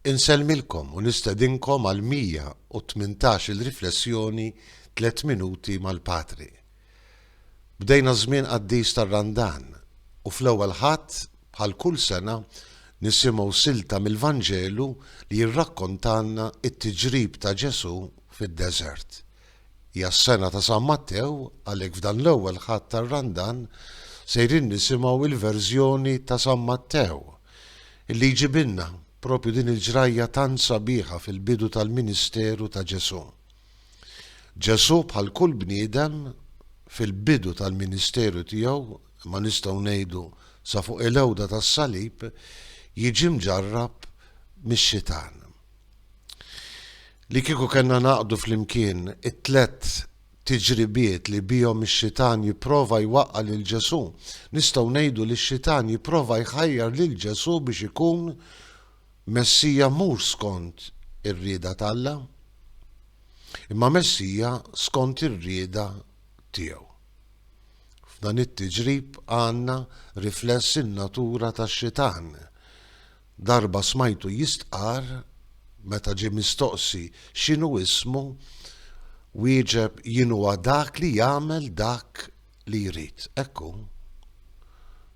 Insellmilkom u nistedinkom għall-118-il riflessjoni Tliet Minuti mal-Patri. Bdejna ż-żmien qaddis tar-Randan u fl-ewwel Ħadd, bħal kull sena, nisimgħu silta mill-Vanġelu li jirrakkontalna t-tiġrib ta' Ġesù fid-deżert. Hija s-sena ta' San Mattew, għalhekk f'dan l-ewwel Ħadd tar-Randan sejrin nisimgħu l-verżjoni ta' San Mattew. Illi jġibilna propju din il-ġrajja tant sabiħa fil-bidu tal-ministeru ta' Ġesù. Ġesù bħal kull bniedem fil-bidu tal-ministeru tiegħu, imma nistgħu ngħidu sa fuq il-għewda tas-salib, jiġi mġarrab mix-xitan. Li kieku kellna naqdu flimkien it-tliet tiġribiet li bihom ix-Xitan jipprova jwaqqa' lil Ġesù, nistgħu ngħidu li x-Xitan jipprova jħajjar lil Ġesù biex ikun Messija mhux skont ir-rieda t'Alla, imma Messija skont ir-rieda tiegħu. F'dan it-tiġrib għandna rifless in-natura tax-Xitan. Darba smajtu jistqarr, meta ġie mistoqsi x'inhu ismu, wieġeb jien huwa dak li jagħmel dak li jrid. Hekk hu.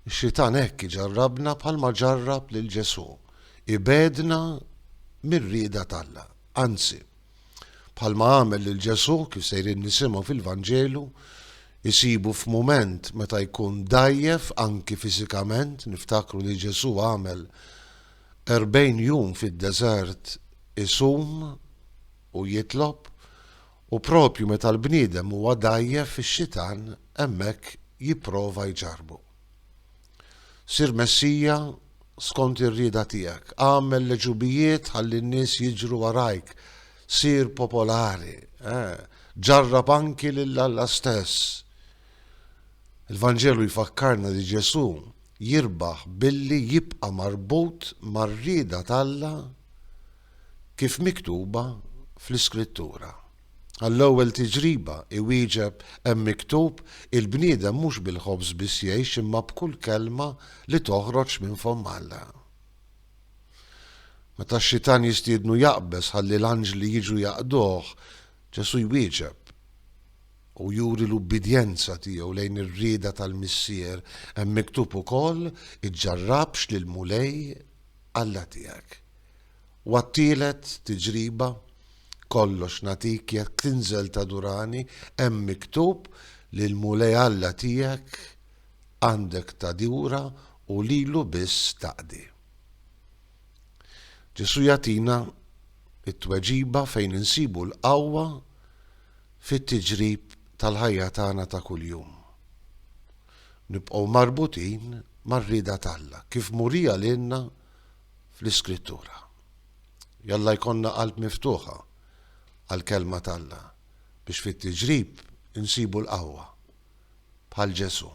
Ix-Xitan hekk iġarrabna bħalma ġarrab lil Ġesù, ibegħedna mir-rieda t'Alla. Anzi. Bħalma għamel lil Ġesù, kif sejrin nisimgħu fil-Vanġelu, isibu f'mument meta jkun dgħajjef anki fiżikament, niftakru li Ġesù għamel erbgħin jum fid-deżert isum u jitlob, u propju meta l-bniedem huwa dgħajjef ix-xitan hemmhekk jipprova jġarrbu. Sir Messija skont ir-rieda tiegħek. Agħmel l-għeġubijiet ħalli n-nies jiġru warajk. Sir popolari. Eh, ġarrab anki lil Alla stess. Il-Vanġelu jfakkarna li Ġesù jirbaħ billi jibqa' marbut mar-rieda t'Alla kif miktuba fl-Iskrittura. Għall-ewwel tiġriba, iwieġeb, Hemm miktub, 'Il-bniedem mhux bil-ħobż biss jgħix imma b'kull kelma li toħroġ minn fomm Alla. Meta x-xitan jistiednu jaqbeż ħalli l-anġli jiġu jaqduh, Ġesù jwieġeb u juri l-ubbidjenza tiegħu lejn ir-rieda tal-Missier, Hemm miktub ukoll, 'Iġġarrabx lill-Mulej Alla tiegħek. U għat-tielet tiġriba, kollox nagħtik jekk tinżel tadurani, hemm miktub li l-Mulej Alla tiegħek għandek tadura u lilu biss taqdi. Ġesù jagħtina t-tweġiba fejn insibu l-qawwa fit-tiġrib tal-ħajja tagħna ta' kuljum. Nibqgħu marbutin mar-rieda t'Alla, kif murija lilna fl-Iskrittura. Jalla jkollna qalb miftuħa għall-Kelma t'Alla biex fit-tiġrib insibu l-qawwa. Bħal Ġesù,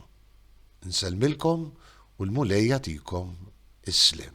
Insellmilkom u l-Mulej jagħtikom is-sliem.